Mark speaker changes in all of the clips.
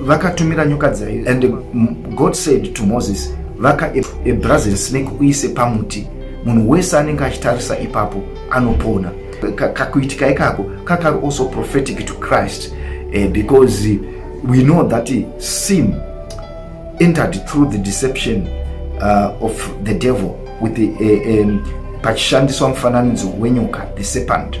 Speaker 1: vakatumira nyoka dzaiyo and god said to moses vaka a brazil snake uise pamuti munhu wese anenge achitarisa ipapo anopona kakuitika ikako kakari also prophetic to christ uh, because eh, we know that eh, sin entered through the deception uh, of the devil with the, uh, um, pachishandiswa mufananidzo wenyoka the serpent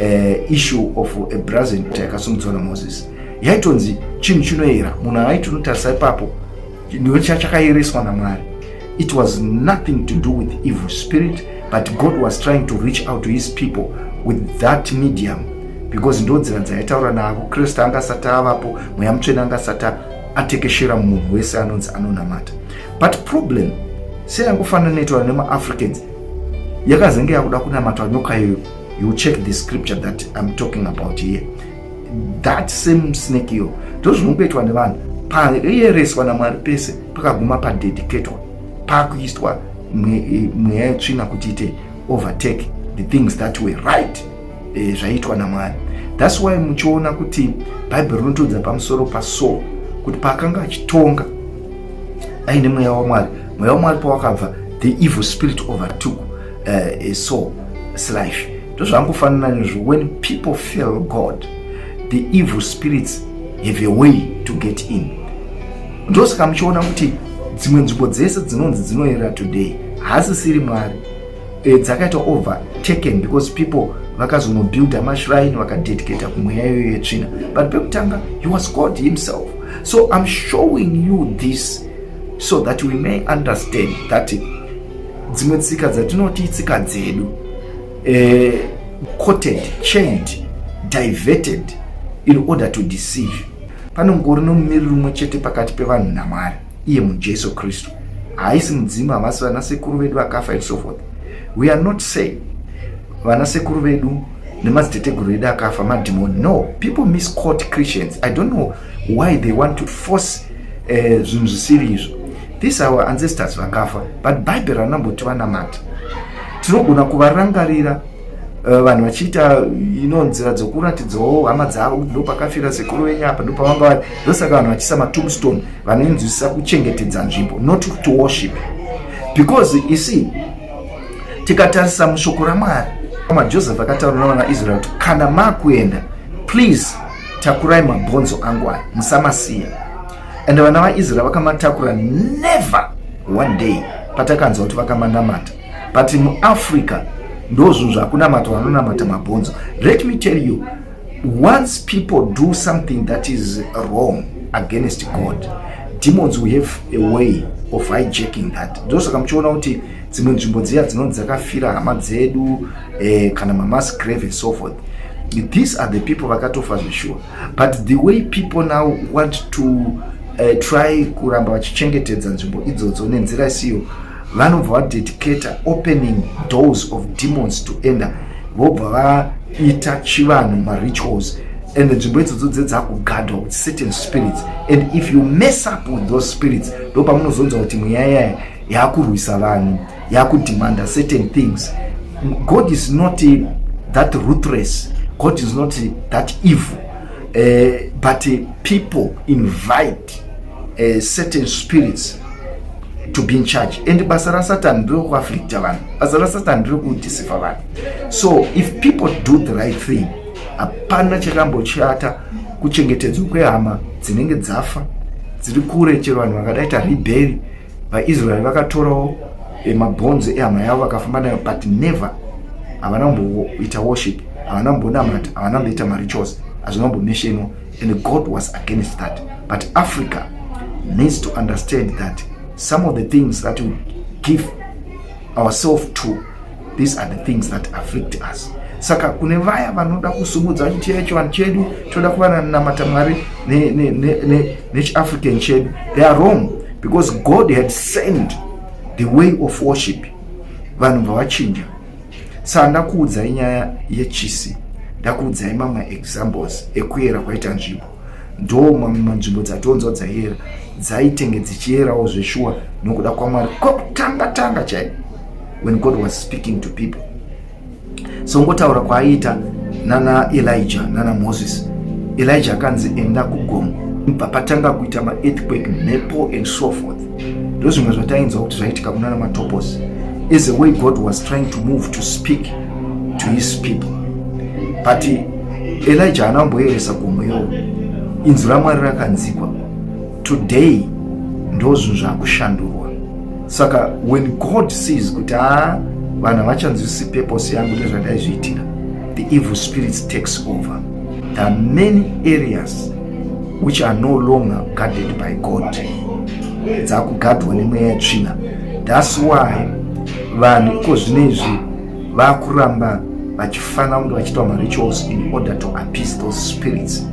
Speaker 1: uh, issue of a brazen altar yakasumudzwa namoses yaitonzi chinhu chinoyera munhu aiti unotarisa ipapo ndiwe chachakayereswa namwari it was nothing to do with evil spirit but god was trying to reach out to his people with that medium because ndo nzira dzaitaura navo kristu anga asati avapo mweya mutsvene anga asati atekeshera munhu wese anonzi anonamata but problem seyangofanana netoa nemaafricans yakazenge yakuda kunamatwa nyoka iyoyo you check the scripture that I'm talking about here that same snake iyo ndozvinongoitwa nevanhu payereswa namwari pese pakaguma padedicatwa pakuiswa e, mweya yetsvina kuti ite overtake the things that were right e, zvaiitwa namwari thats why muchiona kuti bhaibheri rinotiudza pamusoro pasaul kuti paakanga achitonga aine mweya wamwari mweya wamwari pawakabva the evil spirit overtook uh, so it's life ndozvangofanana nezvo when people feel god the evil spirits have a way to get in ndosaka muchiona kuti dzimwe nzvimbo dzese dzinonzi dzinoyera today haasisiri mwari e, dzakaita over taken because people vakazonobuilda mashrine vakadedicata kumweya iyoyo yetsvina but pekutanga he was god himself so im showing you this so that we may understand that dzimwe tsika dzatinoti itsika dzedu eh, coted chained diverted in order to deceive panongori nomumiriri umwe chete pakati pevanhu namwari iye mujesu kristu haisi mudzimu havasi vana sekuru vedu vakafa and so forth we are not saying vana sekuru vedu nemadziteteguru edu akafa madhimoni no people misquote christians i don't know why they want to force eh, zvinhu uh, zvisiri izvo this our ancestors vakafa but bible ranamboti vanamata tinogona kuvarangarira eh, vanhu uh, vachiita ino nzira dzokuratidzawo hama dzavo kuti ndopakafira sekuru venyu apa ndopavanga vari ndosaka vanhu vachisa matomstone vanoinzwisisa kuchengetedza nzvimbo not to worship because you see tikatarisa mushoko ramwari majoseph akataura navana israel kuti kana makuenda please takurai mabhonzo angu aya musamasiya and vana vaisrael vakamatakura never one day patakanzwa kuti vakamanamata but muafrica ndo zvinhu zvakunamata vanonamata mabhonzo let me tell you once people do something that is wrong against god demons we have a way of hijacking that ndosaka muchiona kuti dzimwe nzvimbo dziya dzinonzi dzakafira hama dzedu eh, kana mamas grave and so forth these are the people vakatofa zveshuwa but the way people now want to uh, try kuramba vachichengetedza nzvimbo idzodzo nenzira isiyo vanobva vadedicata opening doors of demons to ender vobva vaita chivanhu marituals and nzvimbo idzodzo dzedzakugadwa with certain spirits and if you mess up with those spirits ndopamunozonza kuti mweya yaya yakurwisa vanhu yakudemanda certain things god is not that ruthless god is not that evil uh, but uh, people invite uh, certain spirits to be in charge and basa rasatan ndirekuaflicta vanhu basa rasatan ndirekudisifa vanhu so if people do the right thing hapana chakambochata kuchengetedzwa kwehama dzinenge dzafa dziri kure chero vanhu vakadaita ribheri vaisraeri vakatorawo eh, mabhonzo ehama yavo vakafamba nayo but never havana kumboita worship havana kumbonamata havana kumboita marituals hazvina kumbomeshenwa and god was against that but africa needs to understand that some of the things that we give ourselves to these are the things that afflict us saka kune vaya vanoda kusumudza vachiti chaiva chivanhu chedu toda kuva nanamata mwari nechiafrican ne, ne, ne, chedu they are wrong because god had sent the way of worship vanhu vavachinja saka ndakuudzai nyaya yechisi ndakuudzai mamwe examples ekuyera kwaita nzvimbo ndo mamwe manzvimbo dzatonzwa dzaiera dzaitenge dzichierawo zveshuwa nokuda kwamwari kwakutanga tanga chai when god was speaking to people so ngotaura kwaaiita nana elija nana moses elija akanzi enda kugomo papatanga kuita maearthquake mhepo and so forth ndozvimwe zvatainzwa kuti zvaitika kunana matopos as a way god was trying to move to speak to his people but elija haana kumboyeresa gomo iyowo inzwi ramwari rakanzikwa today ndozvinhu zvakushandurwa saka when god sees kuti haa vanhu havachanzwisi purpose yangu nezvandaizviitira the evil spirits takes over there are many areas which are no longer guarded by god dzakugadwa nemweya yetsvina thats why vanhu iko zvino izvi vakuramba vachifanira kunge vachiitwa marituals in order to appease those spirits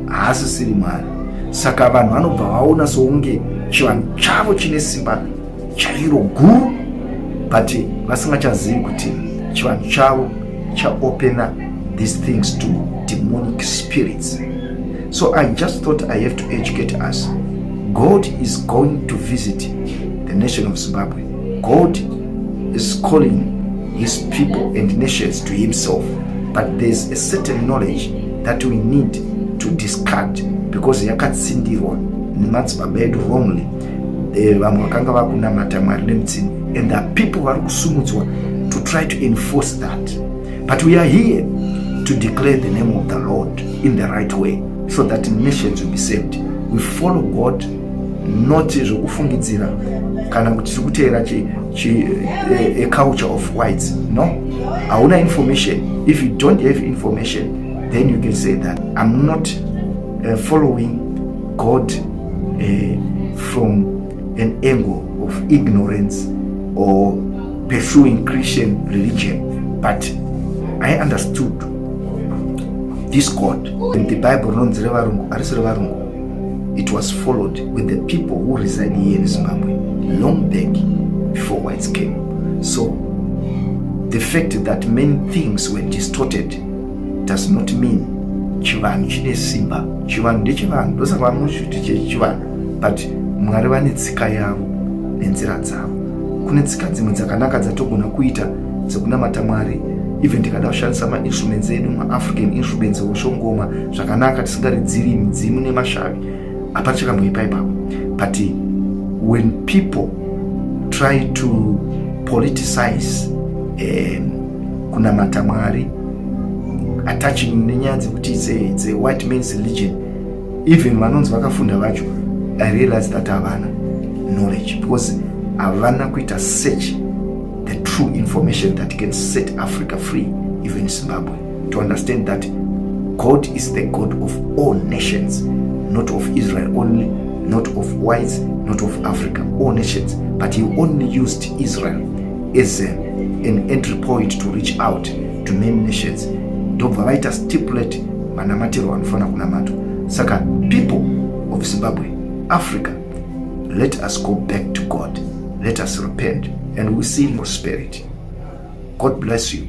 Speaker 1: haasisiri mwari saka vanhu vanobva vaona sounge chivanhu chavo chine simba chairo guru but vasingachazivi kuti chivanhu chavo chaopena these things to demonic spirits so i just thought i have to educate us god is going to visit the nation of zimbabwe God is calling his people and nations to himself but there's a certain knowledge that we need to discard because yakatsindirwa nemadzibaba edu wrongly eh, vamwe vakanga vakunamata mwari nemutsinda and the people vari kusumudzwa to try to enforce that. But we are here to declare the name of the Lord in the right way so that nations will be saved. We follow God not zvokufungidzira kana kuti tiri kuteera eh, a culture of whites no hauna information if you don't have information then you can say that i'm not uh, following god uh, from an angle of ignorance or pursuing christian religion but i understood this god in the bible rinonzi revarungu arisi revarungu It was followed with the people who reside here in Zimbabwe long back before whites came. So the fact that many things were distorted does not mean chivanhu chine simba. Chivanhu ndechivanhu, ndosaka vanoti kuti chivanhu, but Mwari vane tsika yavo nenzira dzavo. Kune tsika dzimwe dzakanaka dzatogona kuita dzekunamata mwari even tikada kushandisa mainstruments edu maafrican instruments oshongoma zvakanaka tisingaridziri midzimu nemashavi hapana chakamboipa ipapo but when people try to politicize um, kunamata mwari attaching nenyaya dzekuti the white mans religion even vanonzi vakafunda vacho i realize that havana knowledge because havana kuita search the true information that can set Africa free, even Zimbabwe, to understand that God is the God of all nations, not of Israel only, not of whites, not of Africa, all nations. But he only used Israel as a, an entry point to reach out to many nations. ndobva vaita stipulate manamatirwo anofanira kunamatwa saka people of zimbabwe africa let us go back to god let us repent and we see prosperity god bless you